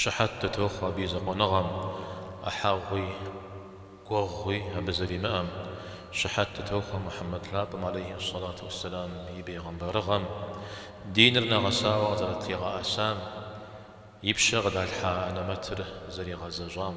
Щыхьэт дытохъуэ абы и закъуэныгъэм, ӏыхьэгъуи, гуэгъуи абы зэримыӏэм. Щыхьэт дытохъуэ Мухьэммэд лъапӏэм алейхьи ссалату уэсселам и бейгъэмбарыгъэм, диныр нэгъэсауэ къызэрытлъигъэӏэсам, и пщэ къыдалъхьа анэмэтыр зэригъэзэщӏам.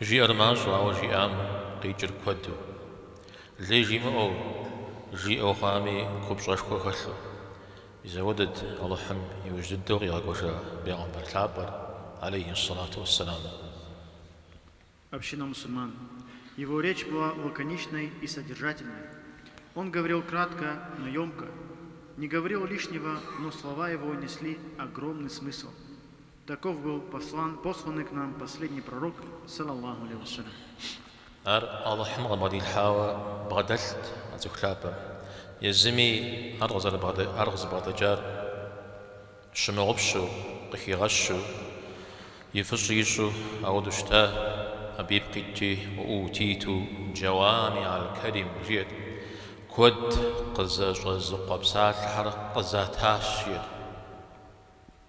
Жиӏэр мащӏэу, ауэ жиӏам къикӏыр куэду. Лей жимыӏэу, жиӏэу хъуами купщӏэшхуэ хэлъу. Ис ауэдэт Алыхьым и ужь дыдэу къигъэкӏуэжа Бегъымбар Лъапӏэр, алейхьи ссалату уэсселам. Община мусульман. Его речь была лаконичной и содержательной. Он говорил кратко, но ёмко. Не говорил лишнего, но слова его несли огромный смысл. Таков был послан, посланный к нам последний пророк, сал Аллаху алейхи ва салям. Ар Алыхьым къыбгъэдилъхьауэ бгъэдэлът а цӏыху лъапӏэм. Езыми ар къызэрыбгъэдэкӏар щымыгъупщэу, къыхигъэщу, и фӏыщӏи ищӏу ауэдэу щыта, абы ипкъ итти, Уӏутиту джауами аль-калим, жиӏэт, куэд къызэщӏэзыкъуэ псалъэхэр къызатащ, жиӏэт.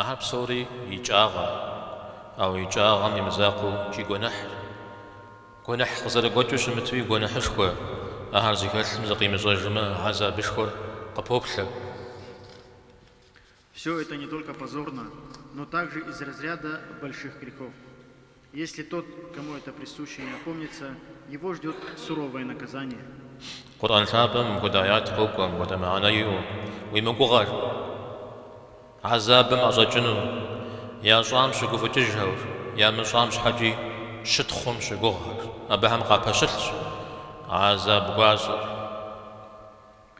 Ахэр псори икӏагъэ, ауэ икӏагъэм и мызакъуэу икӏи гуэныхьщ. Гуэныхь къызэрыгуэкӏыу щымытуи гуэныхьышхуэ, ахэр зыхэлъым зыкъимыщӏэжмэ, гьэзабышхуэр къыпоплъэ. Всё это не только позорно, но также из разряда больших грехов. Къурӏэн лъапӏэм мыпхуэдэ аят къокӏуэ, мыпхуэдэ мыхьэнэ иӏэу, Уи мыгугъэр, гьэзабым ӏэщӏэкӏыну, ящӏам щыгуфӏыкӏыжхэр, ямыщӏам щхьэкӏи щытхъум щыгугъхэр, абыхэм къапэщылъщ гьэзаб гуащӏэр.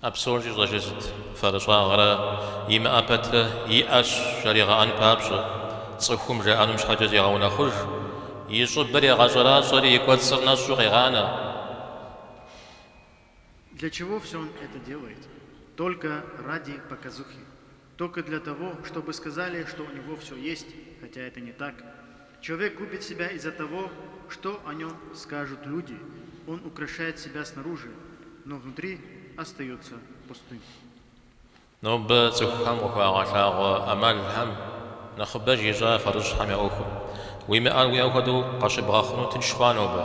А псор щӏищӏэжыр сыт? Фэрыщӏагъэрэ имыӏэ пэтрэ иӏэщ жаригъэӏэн папщӏэ, цӏыхум жаӏэнум щхьэкӏэ зегъэунэхъуж, и щӏыбыр егъэщӏэращӏэри и кӏуэцӏыр нэщӏу къегъанэ. Только для того, чтобы сказали, что у него всё есть, хотя это не так. Человек губит себя из-за того, что о нем скажут люди, он украшает себя снаружи, но внутри остается пустым. Нобэ цӏыхухэм къыхуагъэлъагъуэ ӏэмалхэм нэхъыбэж ищӏа фэрыщӏхэм я ӏуэхур? Уимыӏэр уиӏэ хуэдэу къащыбгъэхъуну тынш хъуа нобэ?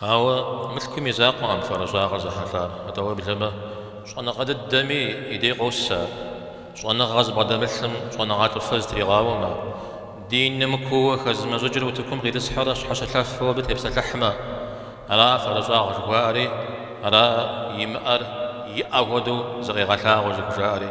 Ауэ мылъкум и закъуэкъым фэрыщӏагъыр зэхьэлъар, атӏэ уеблэмэ, щӏэныгъэ дыдэми и дей къос ар. Щӏэныгъэ зыбгъэдэмылъым щӏэныгъэлӏыфэ зытригъауэмэ, диным куууэ хэзымыщӏыкӏыр утыкум къитӏысхьэрэ щхьэщылъэфу абы тепсэлъыхьмэ, ара фэрыщӏагъ жыхуаӏэри, ара имыӏэр иӏэ хуэдэу зыкъигъэлъагъуэу зыхужаӏэри.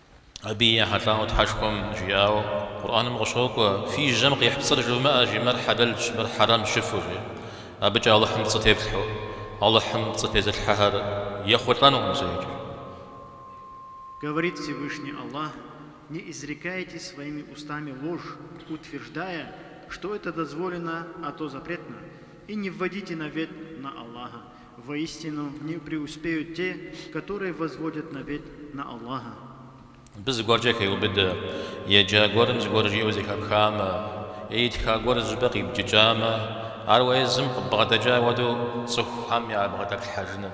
Абы ехьэлӏауэ Тхьэшхуэм жиӏауэ Къурӏэным къыщокӏуэ, Фи жьэм къихь пцӏыр жумыӏэ, жи, мыр хьэлэлщ, мыр хьэрэмщ жыфӏэу, жи. Абыкӏэ Алыхьым пцӏы тефлъхьэу, Алыхьым пцӏы тезылъхьэхэр ехъулӏэнукъым зэикӏи. Говорит Всевышний Аллах, Не изрекайте своими устами ложь, утверждая, что это дозволено, а то запретно, и не вводите навет на Аллаха, Воистину не преуспеют те, которые возводят навет на Аллаха. Мыбы зыгуэркӏэ хеубыдэ, Еджа гуэрым зыгуэр жиӏэу зэхэпхамэ, е итха гуэр зыщӏыпӏэ къибджыкӏамэ, ар уэ езым къыббгъэдэкӏа хуэдэу цӏыхухэм ябгъэдэплъхьэжыным.